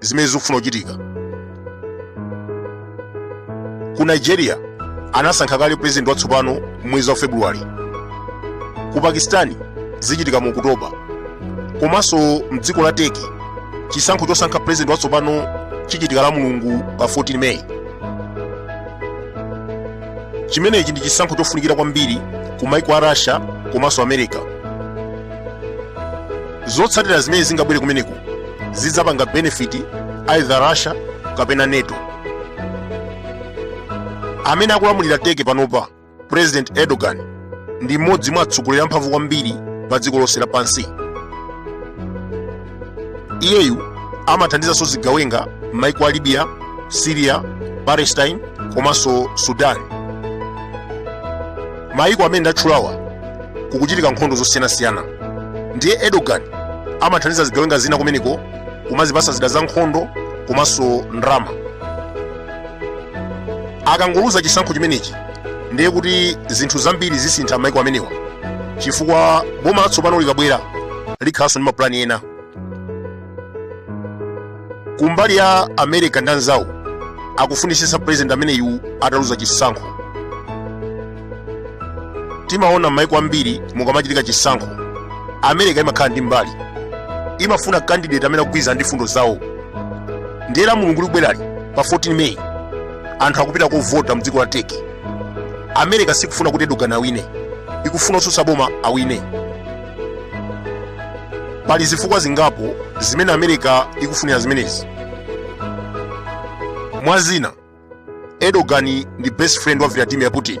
zimene zikufuna kuchitika ku nigeria anasankha kale president watsopano mwezi wa february ku pakistani zichitika mu okutoba komanso mdziko la turkey chisankho chosankha president watsopano chichitika la mulungu pa 14 meyi chimenechi ndi chisankho chofunikira kwambiri ku maiko a russia komanso america zotsatira zimene zingabwere kumeneko zidzapanga benefit either russia kapena nato amene akulamulira turkey panopa president erdogan ndi mmodzi mwa atsogoleri amphamvu kwambiri pa dziko lonse lapansi iyeyu amathandizanso zigawenga m'maiko a libya syria palestine komanso sudan mayiko amene ndatchulawa kukuchitika nkhondo zosiyanasiyana ndiye erdogan amathandiza zigawenga zina kumeneko kumazipasa zida za nkhondo komanso ndalama akangoluza chisankho chimenechi ndiye kuti zinthu zambiri zisintha mayiko amenewa chifukwa boma latsopano likabwera likhalanso ndi mapulani ena kumbali ya america ndi anzawo akufunisisa president ameneyu ataluza chisankho timaona m'maiko ambiri mukamachitika chisankho america imakhala ndi mbali imafuna candidate amene akugwirizana ndi fundo zawo ndiye la mulungu likubwerali pa 14 may anthu akupita kovota mdziko la turkey america sikufuna kuti erdogan awine ikufuna otsutsa boma awine pali zifukwa zingapo zimene america ikufunira zimenezi mwa zina erdogan ndi best friend wa vladimir putin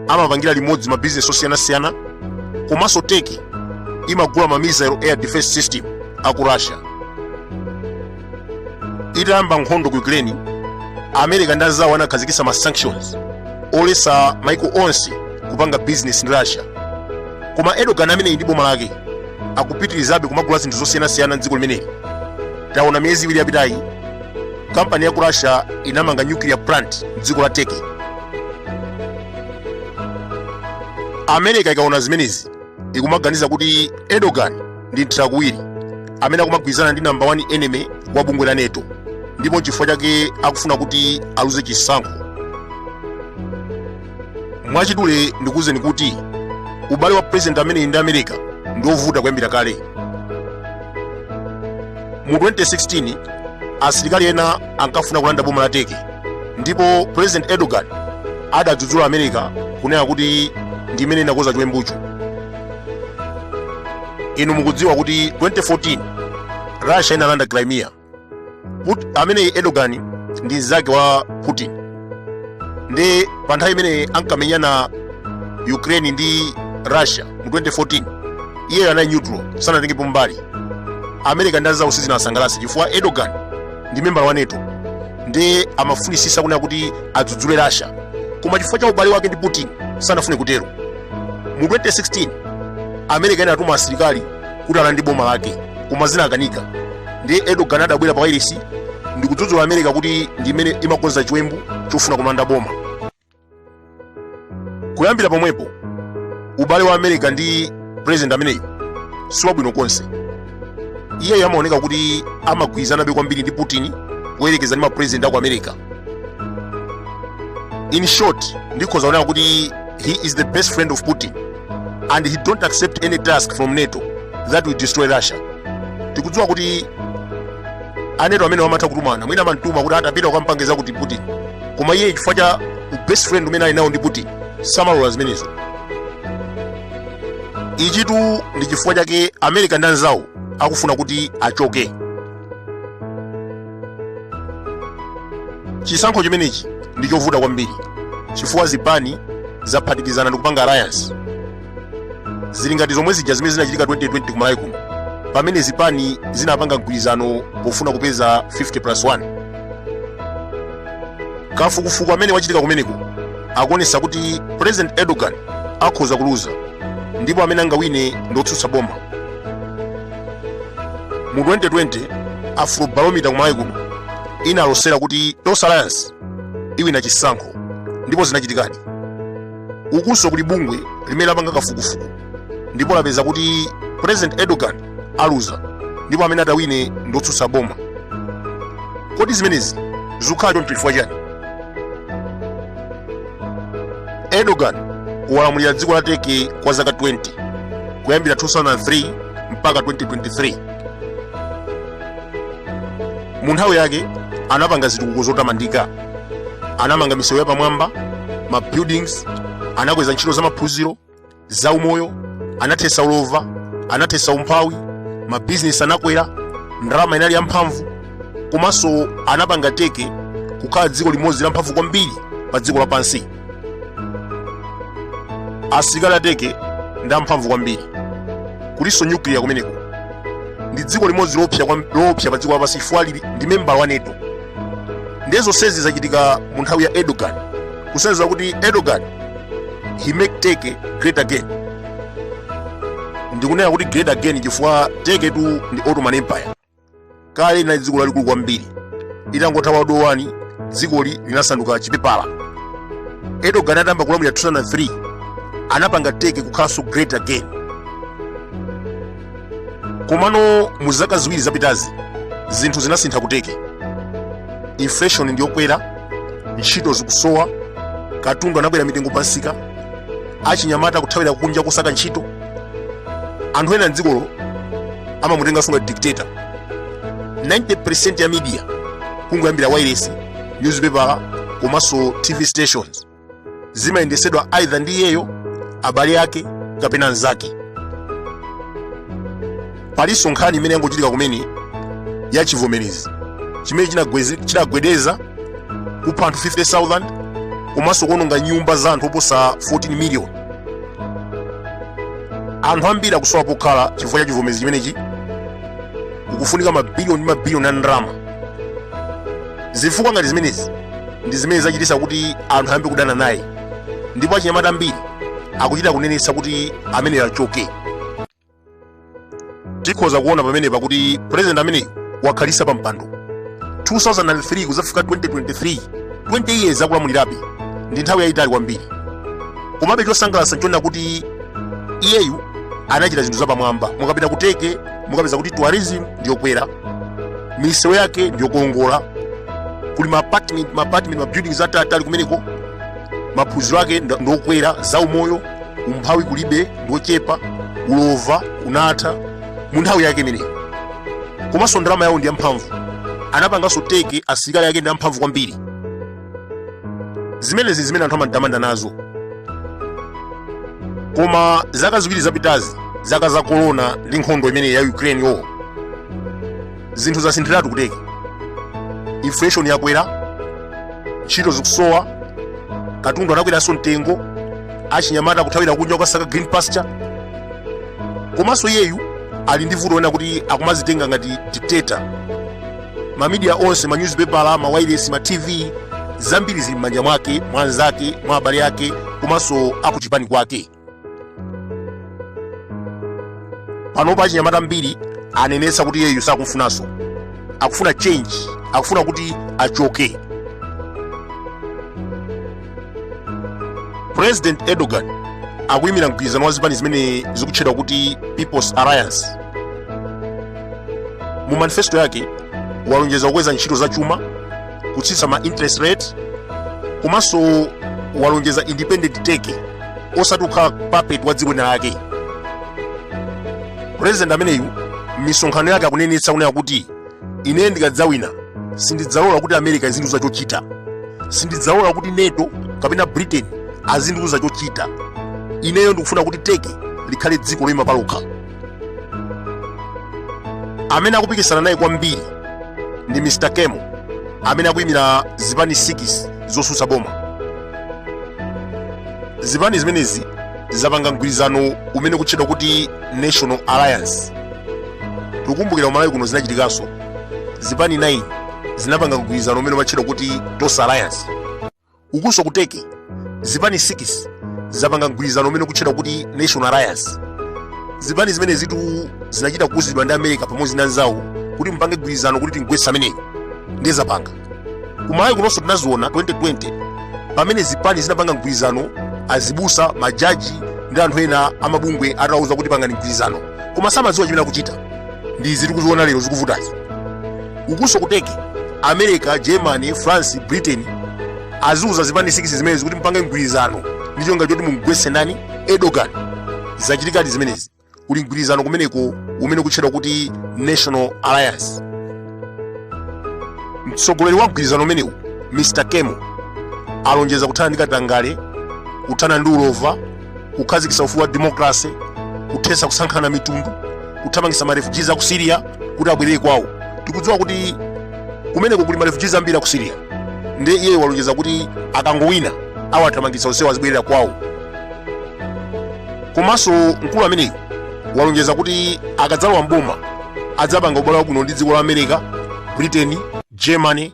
amapangira limodzi mabizinesi osiyanasiyana komanso turkey imagula ma missile air defense system aku russia itayamba nkhondo ku ukraine america ndi anzawo anakhazikitsa ma sanctions oletsa maiko onse kupanga business ndi russia koma erdogan ameneyi ndi boma lake akupitirizabe kumagula zinthu zosiyanasiyana mdziko limeneli taona miyezi iwiri yapitayi kampani ya ku russia inamanga nuclear plant mdziko la turkey america ikaona zimenezi ikumaganiza kuti erdogan ndi mthirakuwiri amene akumagwirizana ndi namba 1 enemy wa bungwe la nato ndipo nchifukwa chake akufuna kuti aluze chisankho mwachidule ndikuwuzeni kuti ubale wa president ameneyi ndi america ndi wovuta kuyambira kale mu 2016 asilikali ena ankafuna kulanda boma la turkey ndipo president erdogan adadzudzula america kunena kuti ndi imene inakoza chiwembucho inu mukudziwa kuti 2014 russia inalanda crimea amene erdogan ndi mzake wa putin ndiye pa nthawi imene ankamenyana ukraine ndi russia mu 2014 iyeyo anali neutral sanatengepo mbali america ndi anzawo sizinasangalatse chifukwa erdogan ndi membala wa nato ndiye amafunisisa kunena kuti adzudzule russia koma chifukwa cha ubale wake ndi putin sanafune kutero mu 2016 america inatuma asilikali kuti alande boma lake koma zinakanika ndiye erdogan adabwera pa wailesi ndikudzudzula america kuti ndi imene imakonza chiwembu chofuna kulanda boma kuyambira pomwepo ubale wa america ndi president ameneyu siwabwino konse iyeyo amaoneka kuti amagwirizanabe kwambiri ndi putin kuyerekeza ndi mapresident aku america in short ndikhoza kunena kuti he is the best friend of putin and he don't accept any task from nato that will destroy russia tikudziwa kuti a nato amenewa amatha kutumana mwina amamtuma kuti tapita ukampange zakuti putin koma iye chifukwa cha best friend umene ali nawo ndi putin samalola zimenezo ichitu ndi chifukwa chake america ndi anzawo akufuna kuti achoke chisankho chimenechi ndi chovuta kwambiri chifukwa zipani zaphatikizana ndi kupanga alliance zili ngati zomwe zija zimene zinachitika 2020 kumalawi kuno pamene zipani zinapanga mgwirizano pofuna kupeza 50 plus 1 kafukufuku amene wachitika kumeneko akuonesa kuti president erdogan akhoza kuluza ndipo amene angawine ndi otsutsa boma mu 2020 afrobarometer kumalawi kuno inalosera kuti tonse alliance iwina chisankho ndipo zinachitikadi ukunso kuli bungwe limene lapanga kafukufuku ndipo lapeza kuti president erdogan aluza ndipo amene atawine ndiotsutsa boma kodi zimenezi zikukhala choncho chifukwa chani Erdogan walamulira dziko la Turkey kwa zaka 20 kuyambira 2003 mpaka 2023. Mu nthawi yake anapanga zitukuko zotamandika, anamanga misewu yapamwamba, ma buildings, anakweza ntchito za maphunziro zaumoyo anathesa ulova anathesa umphawi mabizinesi anakwera ndalama inali yamphamvu komanso anapanga Turkey kukhala dziko limodzi lamphamvu kwambiri pa dziko lapansi asilikali a Turkey ndi amphamvu kwambiri kulinso nyukliya kumeneko ndi dziko limodzi loopsa pa dziko lapansi chifukwa ndi membala wa NATO ndiye zonsezi zachitika mu nthawi ya erdogan kusonyeza kuti erdogan he make Turkey great again ndikunena kuti great again chifukwa Turkey tu ndi ottoman empire kale linali dziko lalikulu kwambiri itangotha world war one dzikoli linasanduka chipepala erdogan atayamba kulamulira 2003 anapanga Turkey kukhalanso great again komano mu zaka ziwiri zapitazi zinthu zinasintha ku Turkey inflation ndiyokwera ntchito zikusowa katundu anakwera mitengo pansika achinyamata kuthawira kunja kusaka ntchito anthu ena mdzikolo amamutenga sunga dictator 90% ya media kungoyambira wireless newspaper komanso tv stations zimayendetsedwa either ndi iyeyo abale ake kapena anzake palinso nkhani imene yangochitika kumene ya chivomerezi chimene chinagwedeza kupha anthu 50000 komanso kuononga nyumba za anthu oposa 14 miliyoni anthu ambiri akusowa pokhala chifukwa cha chivomerezi chimenechi kukufunika mabiliyoni ndi mabiliyoni a ndalama zifukwa ngati zimenezi ndi zimene zachititsa kuti anthu ayambe kudana naye ndipo achinyamata ambiri akuchita kunenetsa kuti ameneyo achoke tikhoza kuona pamenepa kuti president ameneyu wakhalitsa pa mpando 2003 kuzafika 2023 20 years akulamulirabe ndi nthawi yayitali kwambiri komabe chosangalatsa nchonena kuti iyeyu anachita zinthu zapamwamba mukapita ku Turkey mukapeza kuti tourism ndiyokwera misewu yake ndiyokongola kuli ma apartment ma buildings ataliatali kumeneko maphunziro ake ndokwera za umoyo umphawi kulibe ndochepa ulova unatha mu nthawi yake imeneyo komanso ndalama yawo ndi yamphamvu anapanganso Turkey asilikali ake ndi amphamvu kwambiri zimenezi ndi zimene anthu amamutamanda nazo koma zaka ziwiri zapitazi zaka za korona ndi nkhondo imene ya ukraine yo zinthu zasinthiratu ku Turkey inflation yakwera ntchito zikusowa katundu anakweranso mtengo achinyamata kuthawira kunja kukasaka green pasture komanso iyeyu ali ndi vuto lonena kuti akumazitenga ngati dictator mamidiya onse manyuzipepala mawailesi ma tv zambiri zili m'manja mwake mwa anzake mwa abale ake komanso akuchipani kwake panopa achinyamata ambiri anenetsa kuti iyeyu sakumfunanso akufuna change akufuna kuti achoke president erdogan akuyimira mgwirizano wa zipani zimene zikutchedwa kuti peoples alliance mu manifesto yake walonjeza kukweza ntchito za chuma kutsitsa ma interest rate komanso walonjeza independent turkey osati kukhala puppet wa dziko lina lake president ameneyu misonkhano yake akunenetsa kunena kuti ine ndikadzawina sindidzalola kuti america izindiuza chochita sindidzalola kuti nato kapena britain azindiuza chochita ineyo ndikufuna kuti turkey likhale dziko loyima palokha amene akupikisana naye kwambiri ndi mr kemal amene akuyimira zipani 6 zotsutsa boma zipani zimenezi zapanga mgwirizano umene ukutchedwa kuti national alliance tikukumbukira kumalawi kuno zinachitikanso zipani 9 zinapanga mgwirizano umene umatchedwa kuti tonse alliance ukunso ku turkey zipani 6 zapanga mgwirizano umene ukutchedwa kuti national alliance zipani zimenezitu zinachita kuuzidwa ndi america pamodzi ndi anzawo kuti mupange mgwirizano kuti timugwetse ameneyu ndiye zapanga kumalawi kunonso tinaziona 2020 pamene zipani zinapanga mgwirizano azibusa majaji ndi anthu ena amabungwe atawauza kuti pangani mgwirizano koma samadziwa chimene akuchita ndi izi tikuziona lero zikuvutazi ukunso ku turkey america germany france britain aziuza zipani 6 zimenezi kuti mupange mgwirizano ndi cholinga choti mumgwetse ndani erdogan zachitikadi zimenezi kuli mgwirizano kumeneko umene ukutchedwa kuti national alliance mtsogoleri wa mgwirizano umenewu mr kemal alonjeza kuthana ndi katangale kuthana ndi ulova kukhazikitsa ufulu wa demokalase kuthetsa kusankhana mitundu kuthamangitsa marefugees a ku syria kuti abwerere kwawo tikudziwa kuti kumeneko kuli marefugees ambiri a ku syria ndiye iyeyo walonjeza kuti akangowina awathamangitsa onsewo azibwerera kwawo komanso mkulu ameneyu walonjeza kuti akadzalowa mboma adzapanga ubale wabwino ndi dziko la america britain germany